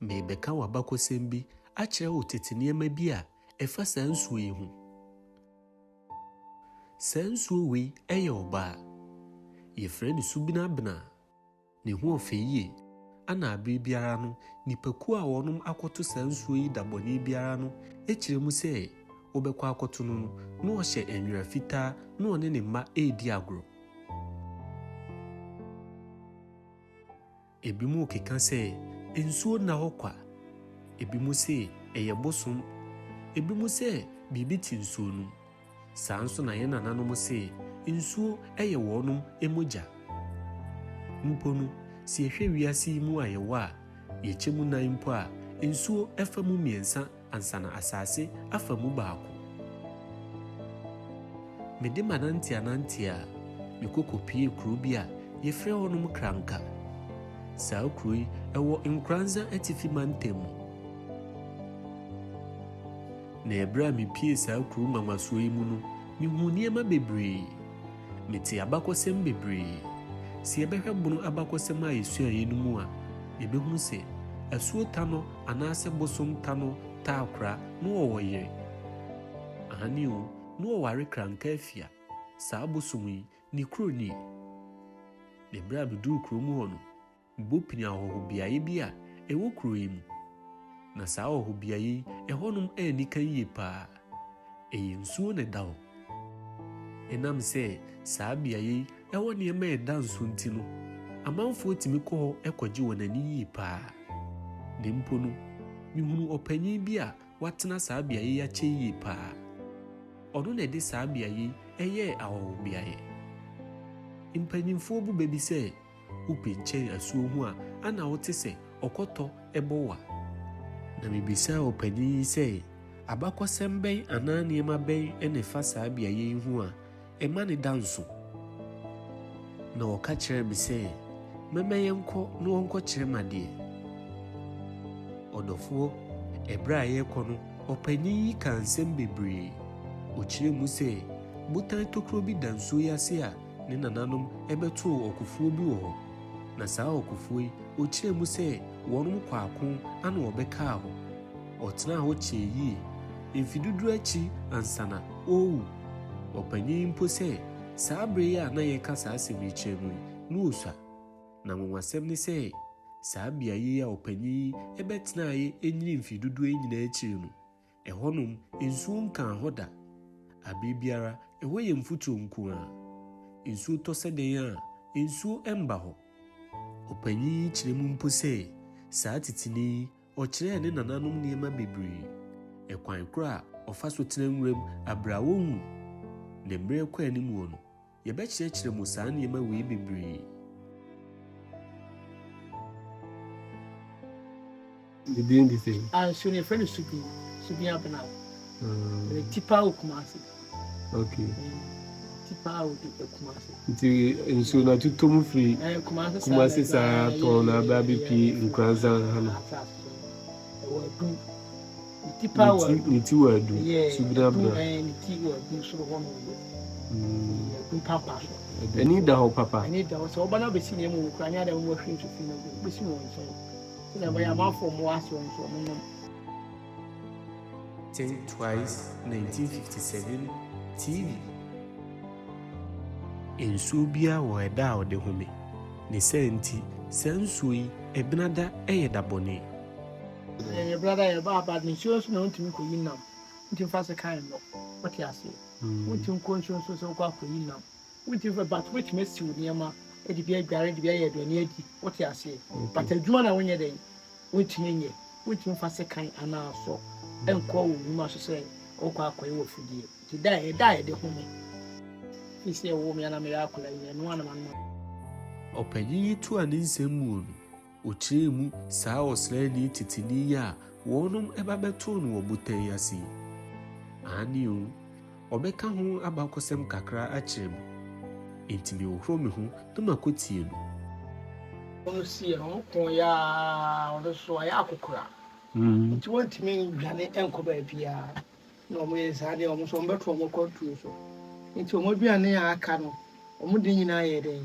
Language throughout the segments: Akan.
Merebɛka w'abakɔsɛm bi akyerɛ wo tete nneɛma bi a ɛfa saa nsuo yi ho. Saa nsuo wei yɛ ɔbaa. Yɛfrɛ no Subinabena. Ne ho ɔfɛ yie. Ana abere biara no nnipakuo a wɔnom akɔto saa nsuo yi da bɔne biara no kyerɛ mu sɛ wobɛkɔ akɔto no no na ɔhyɛ nwera fitaa na ɔne ne mma redi agorɔ. Ebinom keka sɛ, Nsuo nna hɔ kwa. Ebinom se, Ɛyɛ bosom. Ebinom sɛ, Biribi te nsuo no mu. Saa ara nso na yɛn nananom se, nsuo yɛ wɔnom mogya. Mpo no, sɛ yɛhwɛ wiase yi mu a yɛwɔ a, yɛkyɛ mu nan mpo a, nsuo fa mu mmiɛnsa Ansa na asase afa mu baako. Mede m'ananteananteɛ a me kɔ kɔpuee kuro bi a yɛfrɛ hɔnom Kranka. Saa kuro yi wɔ Nkranza Atifi Mantam mu. Na ɛberɛ a mepuee saa kuro nwanwasoɔ yi mu no, mehuu nneɛma bebree. Metee abakɔsɛm bebree. Sɛ yɛbɛhwɛ Bono abakɔsɛm a yɛsuaeɛ no mu a, yɛbɛhunu sɛ Asuo Tano Anaasɛ bosom ta no taa kora na ɔwɔ yere? Aane o, na ɔware kranka afia, saa bosom yi, ne kuro nie. Na berɛ a meduru kuro mu hɔ no, mebɔ pini ahɔhobeaeɛ bi a ɛwɔ kuro yi mu. Na saa ahɔhobeaeɛ yi, ɛhɔnom anni kan yie paa. Ɛyɛ nsuo na ɛda hɔ. Ɛnam sɛ saa beaeɛ yi wɔ nneɛma a ɛda nso nti no, amanfoɔ tumi kɔ hɔ kɔgye wɔn ani yie pa ara. Na mpo no, mehunuu ɔpanin bi a watena saa beaeɛ yi akyɛ yie pa ara. Ɔno na ɛde saa beaeɛ yi yɛɛ ahɔhobeaeɛ. Mpanimfoɔ bu bɛ bi sɛ, Wopɛ kyɛn asuo ho a, ana wote sɛ ɔkɔtɔ bɔ wo a? Na mebisaa ɔpanin yi sɛ, Abakɔsɛm bɛn anaa nneɛma bɛn na ɛfa saa beaeɛ yi ho a ɛma no da nso? Na ɔka kyerɛɛ me sɛ, Mɛma yɛnkɔ na ɔnkɔkyerɛ me adeɛ. Ɔdɔfoɔ, ɛberɛ a yɛrekɔ no, ɔpanin yi kaa nsɛm bebree. Ɔkyerɛɛ mu sɛ, Botan tokuro bi da nsuo yi ase a Ne nananom bɛtoo ɔkofoɔ bi wɔ hɔ, na saa ɔkofoɔ yi, ɔkyerɛɛ mu sɛ wɔnom kɔ ako ana ɔbɛkaa hɔ. Ɔtenaa hɔ kyɛɛ yie, mfe dudu akyi ansana ɔrewu. Ɔpanin yi mpo sɛ saa berɛ yi a na yɛreka saa asɛm yi kyerɛ no yi, na ɔsua. Na nwanwasɛm ne sɛ, saa beaeɛ yi a ɔpanin yi bɛtenaeɛ nyini mfe dodoɔ yi nyinaa akyiri no, Ɛhɔnom, nsuo nkaa hɔ da. Aberɛ biara, ɛhɔ yɛ mfuturo nko ara. Nsuo tɔ sɛ dɛn a, nsuo mba hɔ. Ɔpanyin yi kyerɛ mu mpo sɛ, saa titini yi, ɔkyerɛɛ ne nananom nneɛma bebree. Ɛkwan korɔ a ɔfa so tena nwuram aberɛ a ɔnwu ne mmerɛ kɔ animuɔ no, Yɛbɛkyerɛkyerɛ mo saa nneɛma wei bebree. Ne din de sɛn? Ah, nsuo no yɛfrɛ no Subi, Subi Abena. Mm. Ɛyɛ Tipa o Kumasi. Okay. Tipa o de Kumasi. Nti nsuo no atuto mu firi eh, Kumasi saa tɔn na abɛ abɛpie Nkuransan ha no. Ɛwɔ Adum. ne ti wɔ adu so birabira. Ani da hɔ papa. Think Twice 1957 TV. Nsuo biara wɔ ɛda a ɔde home. Ne saa nti, saa nsuo yi, ɛbenada yɛ da bɔne. Yɛyɛ brada a yɛbɔ aba de nsuo nso na wontumi nkɔyi nam nti mfa sekan mmɔ wote aseɛ wontumi nkɔ nsuo nso sɛ wokɔ akɔyi nam wontumi fa but wobɛtumi asi wo nneɛma de bi adware de bi ayɛ aduane adi wote aseɛ but adwuma na wonyɛ dɛn wontumi nyɛ wontumi mfa sekan anaa sɔ nkɔ wo nnwuma so sɛ wokɔ akɔyɛ wɔ fidie nti da ɛda a yɛde home fi sɛ ɛwɔ me ana meyɛ akɔla nyɛ no anam anam ɔpanyin yi toa ne nsɛm muo no. Ɔkyerɛɛ mu saa ɔsraani titenani yi a wɔnom ba bɛtoo no wɔ botan yi ase yi. Aane o, ɔbɛka ho abakɔsɛm kakra akyerɛ me. Enti mehohoro me ho na makɔtie no. Wɔsiee no, wɔkoeɛ ara, ɔno nso wayɛ akokora, enti wantumi nnwane ankɔ baabiara, na wɔyɛɛ saa deɛ, wɔn nso wɔbɛto wɔn akwantuo so. Enti wɔn aduane a aka no, wɔde nyinaa yɛɛ dɛn?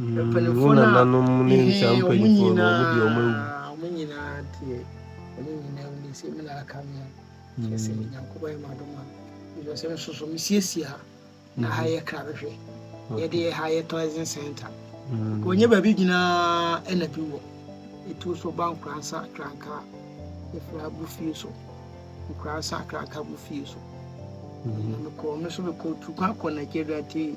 Mpanimfoɔ no a mehwɛɛ wɔn nyinaa deɛ, wɔn nyinaa wuiɛ, sɛ me na aka me a, kyerɛ sɛ Onyankopɔn ayɛ me adom a, because me nso so mesiesie ha, na ha yɛ krabehwɛ, yɛde yɛ ha yɛ tourism center, wɔnyɛ baabi nyinaa ɛna bi wɔ, ɛtu so ba Nkoransa Kranka, ɛfiri ha bu fie so, Nkoransa Kranka bu fie so, na mekɔɔ me so mekɔɔ Tukwa kɔ Nigeria tee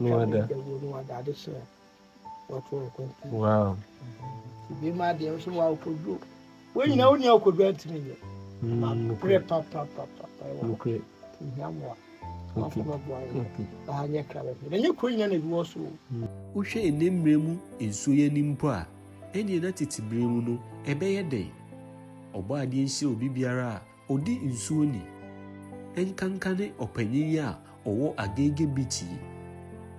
no ada. Wow. Wohwɛ nnɛ mmerɛ mu nsuo yi anim mpo a, ɛnneɛ na tete berɛ mu no ɛbɛyɛ dɛn? Ɔbɔadeɛ nhyira obi biara a Odi nsuo ni. Ɛnkanka ne ɔpanyin yi a ɔwɔ Agege Beach yi.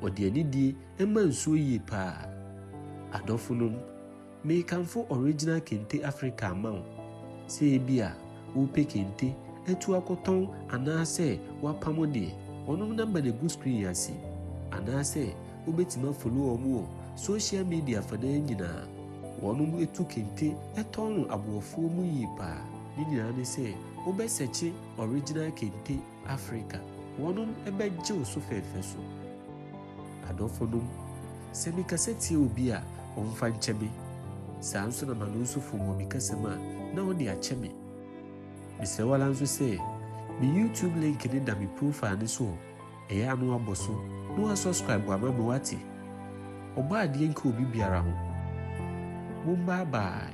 Ɔde anidie ma nsuo yie paa. Adɔfonom, mekamfo Original Kente Africa ma wo. Sɛ ebia wopɛ kente atu akɔtɔn anaasɛ woapamo deɛ, wɔnom number no gu screen yi ase. Anaasɛ wobɛtumi afollow wɔn wɔ social media afanan nyinaa. Wɔnom tu kente tɔn no aboɔfoɔ mu yie paa. Ne nyinaa ne sɛ wobɛsɛkye original kente Africa. Wɔnom bɛgye wo so fɛɛfɛ so. Adɔfo nom, sɛ me kasa tia obi a, ɔmfa nkyɛ me. Saa nso na m'ano nso fom wɔ me kasa mu a, na ɔde akyɛ me. Mesrɛ wo ara nso sɛ, me YouTube link no da me profile no so o, ɛyɛ a na wabɔ so na wa subscribe ama me wate? Ɔbɔ adeɛ nka obi biara ho. Mom bye bye.